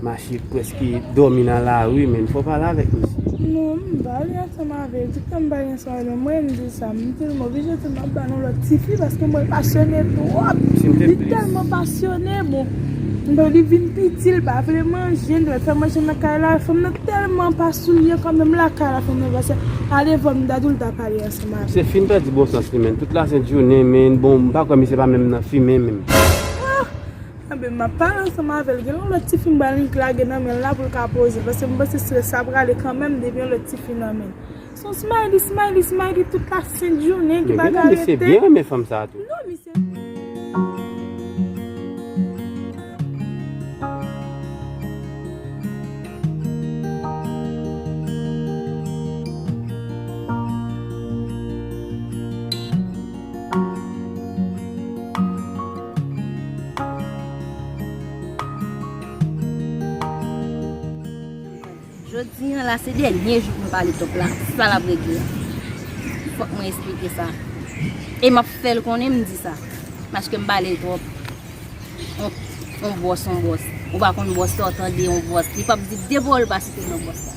Mache preske domi nan la rue menm fò pale avek misye. Non m pa ale ansanm avèl tout tan m pa gen sa nan mwen m di sa m di l m oblije di l m ap ba nou lòt tifi paske mwen pasyone twòp li tèlman pasyone bon lè li vin piti l pa vle manje m dwe fè manje nan kay la fanm nan tèlman pa souryè kòm menm lakay la fanm nan pa se a devan m ta di w l ta pale ansanm avèm. Misye fin pèdi bon sans li menn tout lasent jounen men bon m pa kwè misye pa menm nan fimen menm. Anben map pale ansanm avèl gen yon lòt tifi mwen pral lage nan menl la poul ka poze paske mwen panse strès sa prale kanmenm depi yon lòt tifi nan menl son smiley smiley smiley tout la sent jounen ki pa ka rete. Misye byen renmen fanm sa tou. Non misye. Jodi an la se dènye jou pou m pale top la, si pa l ap regle. Fòk mwen esplike sa. E m ap fè l konnen m di sa. Paske m pale l twòp. On bwòs on bwòs. Ou pa konn bwòs sa ou tande on bwòs. Li p ap di de pa w l pa site non bwòs la.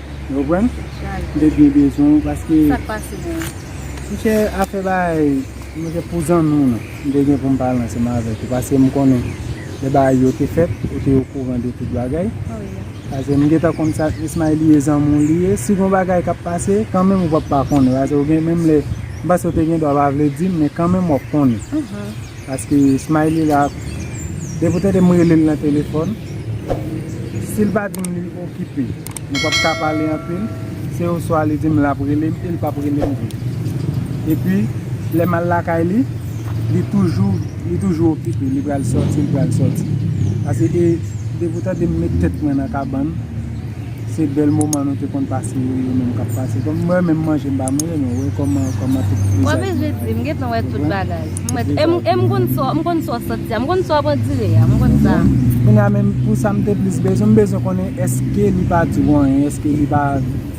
Ou konprann? Mte byen bezwen ou paske Sak pase menm? Mnchè afè bagay mnchè pou zanmi w nan mte gen poum pale ansanm avèk ou paske mkonnen lè bagay yo te fèt ou te okouran de tout bagay paske mgentan konn sa Ismaël ye zanmi w li ye si gon bagay kap pase kanmenm ou pap pa konnen paske ou gen menm lè mpanse ou te gen dwa pa vle dim men kanmenm wap konnen paske Ismaël la depi ou tande mrele l nan telefòn sil pa dim li okipe. Nou pap ka pale anpil, se oswa li di m l ap rele m e l pap rele m vre. Epi, lè m al lakay li, li toujou, li toujou okipe, li pral sòti, li pral sòti. Pase e, depi ou tande m met tèt mwen nan kabann, se bèl moman nou te konn pase yo, yo menm k ap pase. Kòm mwen menm manje m pa manje, men wè kòman, kòman tout vizaj mwen chanje. Mwen bezwen di, m gen tan wè tout bagay. E m konn sa w santi a, m konn sa w ap andire a, m konn sa. Kounye a menm pou sa m te plis bezwen, m bezwen konnen èske li pa di w anyen, èske li pa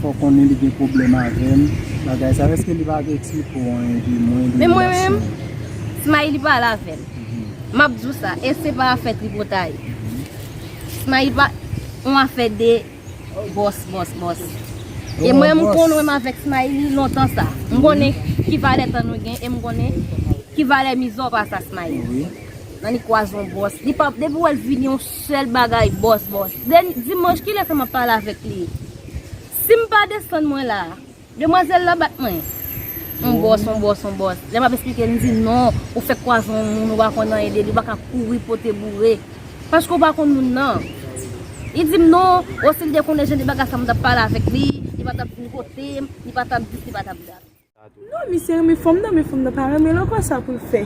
fè w konnen li gen pwoblèm avè m, bagay sa yo, èske li pa te eksplike w anyen de mwen, de relasyon. Men mwen menm, Smaï li pale avè m, m ap di w sa, e se pa afè tripotay. Smaï pa, yon afè de. Boss boss boss E mwen m kon wem avek smayli lontan sa M konnen ki valè tan nou gen e m konnen ki valè mizè w pa sa smayli Nannik pwazon boss Li pap depi wè l vini yon sèl bagay boss boss Dimanch kilè sa map pale avek li Si m pa desann mwen la. Demwazel la bat mwen. On boss, on boss, on boss. Lè map esplike li di non, ou fèk kwaze on moun ou pa konn anyen de li, ou pa ka kouri pote boure. Paske ou pa konn moun nan. Li di m non, oh si li te konnen jan de bagay sa m tap pale avèk li, li pa tap vin kote m, li pa tap dis, li pa tap dat. Non, misye renmen fanm nan, men fanm nan pa renmen l ankò sa pou l fè?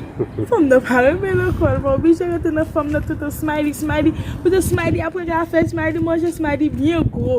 Fanm nan pa renmen l ankò, l pa oblije rete nan fanm nan toutan Smiley, Smiley, kote Smiley ap rete afè Smiley manje Smiley byen gwo.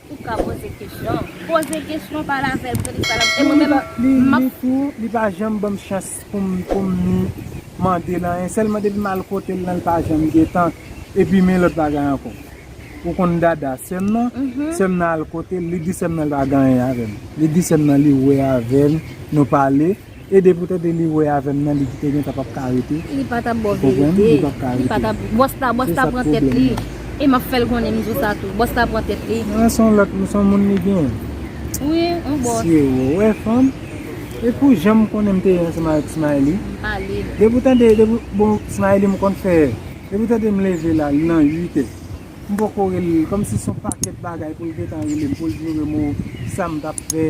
Ou ka poze kesyon. Poze kesyon pale avèl se li ki pale avèl e mwen menm map. Li tou li pa janm banm chans poum poum ni mandel anyen sèlman depim al kotel lan li pa janm gentan epi men lòt bagay ankò ou konn dada sèm nan sèm nan al kotel li di sèm nan li pa gen anyen avèm li di sèm nan li wè avèm nou pale. Ede pou tande li wè avèm nan li kite gentan pap ka rete Li pa tap baw verite Li pap ka rete Li pa tap Bòs la bòs la pran tèt li E map fèl konnen m di w sa tou Bòs la pran tèt li Nan son lòt m son moun li gen Wi yon bòs Mesye ou wè fanm E pou jan m konnen m te ye ansanm avèk Smaïly M pale Depi w tande depi bon Smaïly m konn fè Depi w tande m leve la li nan 8 è M poko rele l kòmsi son pakèt bagay pou l gentan rele m pou l di m sa m tap fè.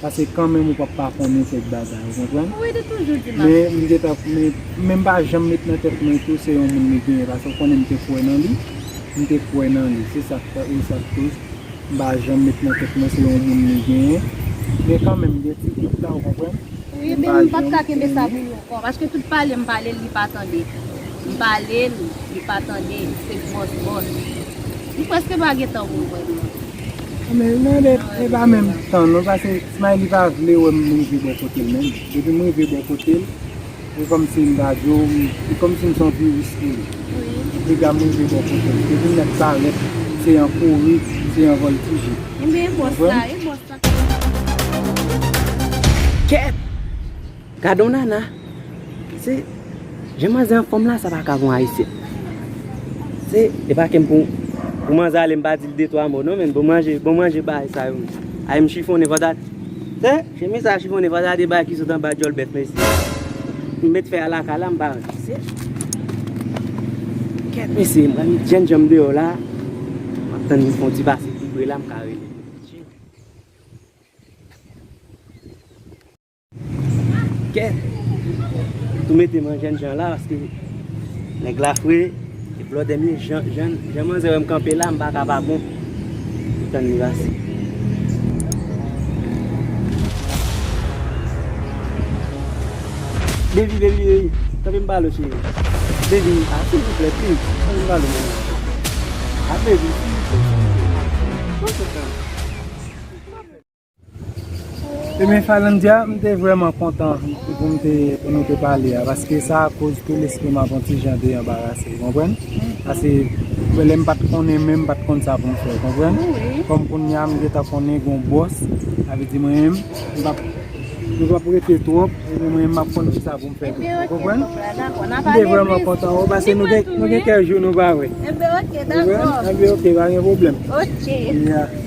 Pase kanmenm ou pap pa konnen kèk bagay ou konprann? Wi li toujou di map di. Men m gentan men m pa janm met nan tèt mwen tou se yon moun li genyen pase ou konnen m te kwè nan li, m te kwè nan li se sak fè e sak koz m pa janm met nan tèt mwen se yon moun li genyen men kanmenm gen ti dout la ou konprann? Wi men m pap ka kenbe sa pou lontan paske tout pale m pale l li pa tande m pale l li pa tande se gwòs bòs li prèske pa gen tan pou l wè m non. Anmeyy nan de e pa menm tan non pase smiley pa vle wèm rive bò kotel menm depim rive bò kotel e kòmsi mta diw e kòmsi mson viris pou li anpli dam rive bò kotel depim met parèt se yon kouri se yon vòltije ou konprann. Kèt! Gadon nana Se Jan manzè anfòm la sa paka pou ayisyen Se E pa kem pou Pou manzè ale m pa dil de 3 mo non men bon manje bon manje bay sa yo menm Ay m chifonnen patat Se Chemiz sa chifonnen patat e bay ki sot anba dyòl bèf mesye M met fè a lakay la m pa wè Se Kèt mesye m pral met jenn janm deyò la M ap tann yon ti pase pi pre la m ka rele. Kè Tou mete man jèn jan la Paske nèg la fre E blòdè mi jan Jan manzè wèm kanpe la M paka pa bon Pou tann li vase Baby baby baby Tanpri m balo cheri Baby a silvouplè please Tanpri m balo baby A baby silvouplè Tanpri m balo Ebyen Falandia m te vreman kontan pou m te pou nou te pale a paske sa koz ke lespri m ap on ti jan deranbarase ou konprann pase pou lè m pat konnen menm m pat konn sa pou m fè ou konprann kòm kounya m gentan konnen gon bòs sa vle di mwen menm m pap m pap rete twòp mwen menm m ap konn kisa pou m fè tou ou konprann m te vreman kontan ou pase nou gen kèk jou nou pa wè ebyen ok pa gen pwoblèm ok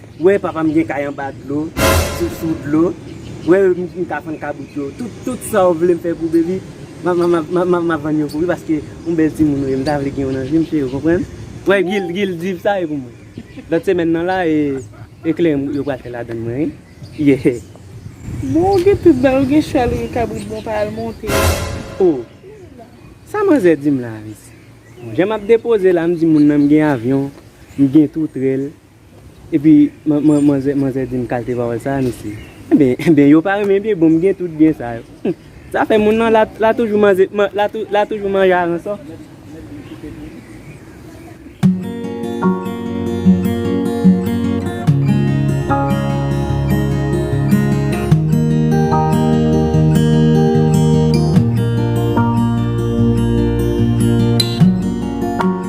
Wè papa m gen kay anba dlo, sou sou dlo, wè m ka fann kabrit yo, tout tout sa ou vle m fè pou baby, m ap vann yo pou li paske yon bèl timoun ou ye, m ta vle gen yo nan vi m cheri ou konprann? Wè Gil, Gil di sa e pou mwen. Lòt semèn nan la e eklere yo pral fè ladann mwen wi. Yehee. Bon ou gen tout bagay, ou gen chwal ou gen kabrit bon pa al monte yo. Oh! Sa manzè di m la a mesi. Bon jan m ap depoze la m di moun nan m gen avyon, m gen toutrèl. Epi manzè manzè dim kalte pawòl sa a mesi. Enben enben yo pa renmen byen bonm gen tout byen sa yo. Humm zafè moun nan la toujou manze la toujou manje aransò.